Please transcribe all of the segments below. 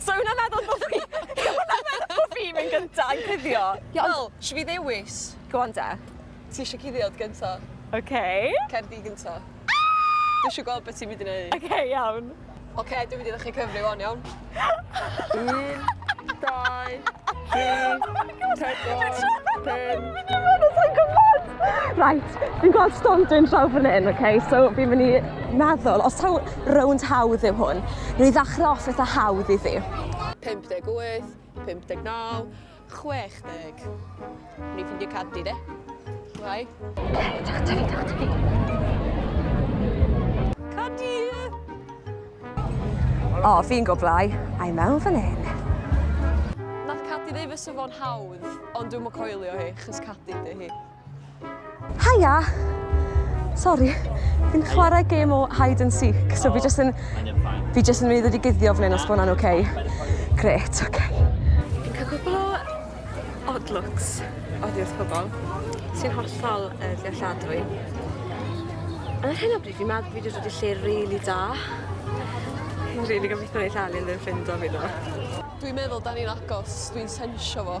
So hwnna'n meddwl bod fi... hwnna'n meddwl bod fi'n mynd gyntaf yn cuddio? Ie ond... Wel, isio fi ddewis? Go on de. Ti isio cuddio gynta? Ok. Cer di gynta. Dwi isio gweld beth ti'n mynd i wneud. Ok, iawn. Ok, dwi'n mynd i ddechrau cyfri wan, iawn? Un, dau... Right, fi'n gweld stondin draw fan hyn, okay? so fi'n mynd i meddwl, os taw rownd hawdd yw hwn, rwy'n i ddechrau off eitha hawdd i fi. 58, 59, 60. Rwy'n ffindio cadw, de? Rai? Cadw, cadw, cadw. O, oh, fi'n goblau. I mewn fan hyn. Nath Cadi ddeu fy sy'n fo'n hawdd, ond dwi'n mwyn coelio hi, chys Cadi dy hi. Haia! Sorry, fi'n chwarae gêm o hide and seek, so fi jyst yn... Fi jyst yn mynd i ddod i guddio fan hyn os bod hwnna'n oce. Okay. Gret, oce. Okay. Odd looks oddi wrth pobl sy'n hollol uh, ddealladwy. Ond ar hyn o bryd fi'n meddwl fi wedi dod i lle rili really da. Fi'n rili gobeithio wneud Alun ddim ffindo fi ddo. Dwi'n meddwl da ni'n agos, dwi'n sensio fo.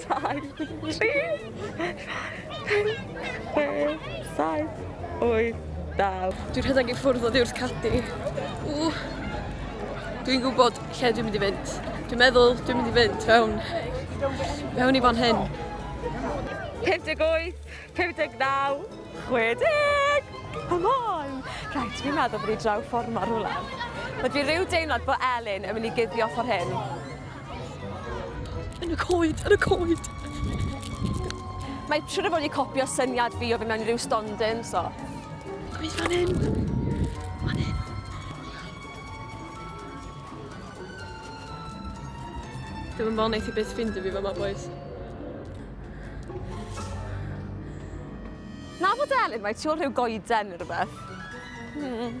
Dau, tri, pedwar, pump, chwech, saith, wyth, naw. Dwi'n rhedeg i ffwrdd o ddiwrth cadi. Ww. Dwi'n gwybod lle dwi'n mynd i fynd. Dwi'n meddwl dwi'n mynd i fynd fewn, fewn i fan hyn. 58, 59, 60! Come on! Rhaid, fi'n meddwl bod i draw ffordd mor rhywle. Mae dwi rhyw deimlad bod Elin yn mynd i guddio ffordd hyn. Yn y coed, yn y coed! Mae siwr o fod wedi copio syniad fi o fi mewn i ryw stondin, so... Gwydd fan hyn! Fan hyn! Ddim yn fawr neith i byth ffindio fi fama, boys. Na fod Elin, mae tu ôl rhyw goeden neu rhywbeth. Hmm.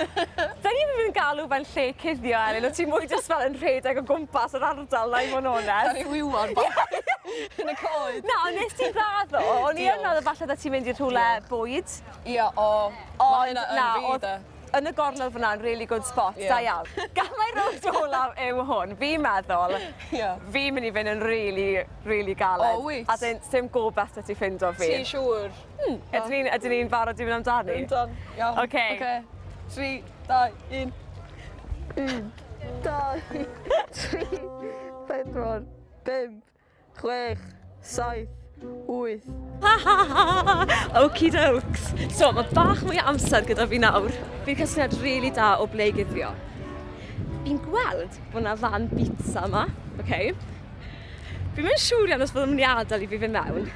Dyn ni ddim yn galw fe'n lle cuddio Elin o't ti mwy jyst fel yn rhedeg o gwmpas yr ardal 'na i fo' yn onest. Caru wywod bach yn y coed. Na ond nes ti raddo o'n i yn meddwl falle byddet ti'n mynd i rhywle bwyd. Ia o ma' hynna yn fi 'de. Yn y gornel fyn 'na'n rili good spot da iawn. Gamau rownd olaf yw hwn fi'n meddwl. Ia. Fi'n myn' i fyn' yn rili rili galed. O wyt? As in sdim gobeth 'da ti ffindo fi. Ti siŵr? Hmm. Ydyn ni'n ydyn ni'n barod i fynd amdani? Yndwn. Iawn. Oce. Oce. 3 2 1. Un. Dau. Tri. Pedwar. Pump. Chwech. Saith. Wyth. Okie dokes. So, mae bach mwy o amser gyda fi nawr. Fi'n casgliad rili really da o ble i guddio. Fi'n gweld bod yna fan bits yma. Okay. Fi'n mynd siŵr iawn os byddwn nhw'n adael i fi fy mewn.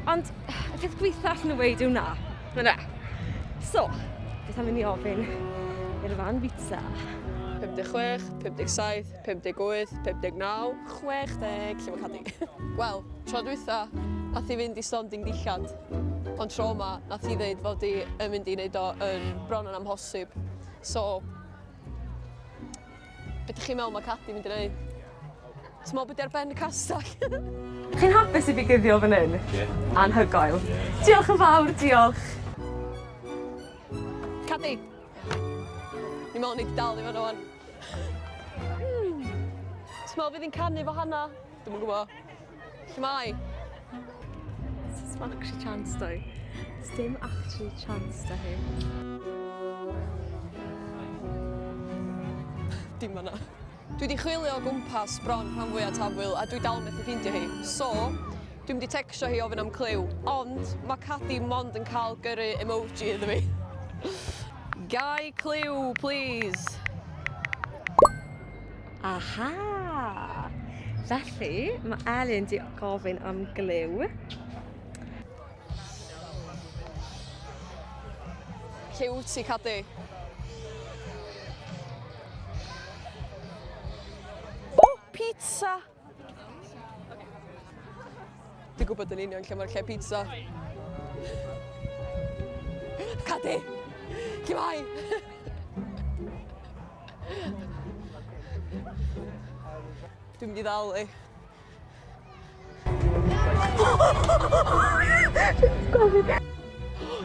Ond y peth gweitha allan nhw weid yw na. Na na. So, beth am i ni ofyn i'r fan bita? 56, 57, 58, 59, 60, lle mae cadi? Wel, tro dwytha, nath i fynd i Storm Ding Dillad. Ond tro yma, nath i ddeud fod i yn mynd i wneud o yn bron yn amhosib. So, Be dych chi'n meddwl mae Cadi mynd i wneud? Ti'n meddwl beth ar ben y castell? Chi'n hapus i fi guddio fan hyn? Yeah. Anhygoel. Yeah. Diolch yn fawr, diolch. Cadi! Ni'n meddwl ni wedi dal i fan o'n. Ti'n meddwl fydd hi'n canu fo hana? Dwi'n yn gwybod. Lle mae? Dim actually chance doi. Dim actually chance da hi. Dim fanna. Dwi wedi chwilio o gwmpas bron rhan fwyaf tafwyl a dwi dal methu ffeindio hi. So, dwi wedi tecsio hi ofyn am clyw. Ond mae Cadi mond yn cael gyrru emoji iddo fi. Gai clyw, please? Aha! Felly, mae Elin di gofyn am glyw. Lle wyt ti, Cadi? O, pizza! Dwi'n gwybod yn union lle mae'r lle pizza. Cadi! Lle mae? Dwi'n mynd i ddal i.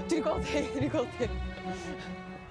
Dwi'n gweld hi, dwi'n gweld hi.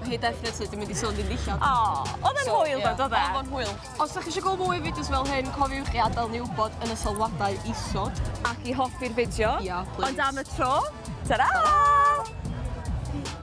Ma' hi definitely 'di mynd i sôn fi'n ddillad. O! Odd e'n hwyl ddo do fe? Odd o'n hwyl. Os 'dach chi isio gwel' mwy o fideos fel hyn cofiwch i adel ni wbod yn y sylwadau isod. Ac i hoffi'r fideo. Ia plîs. Ond am y tro, tara! Tara!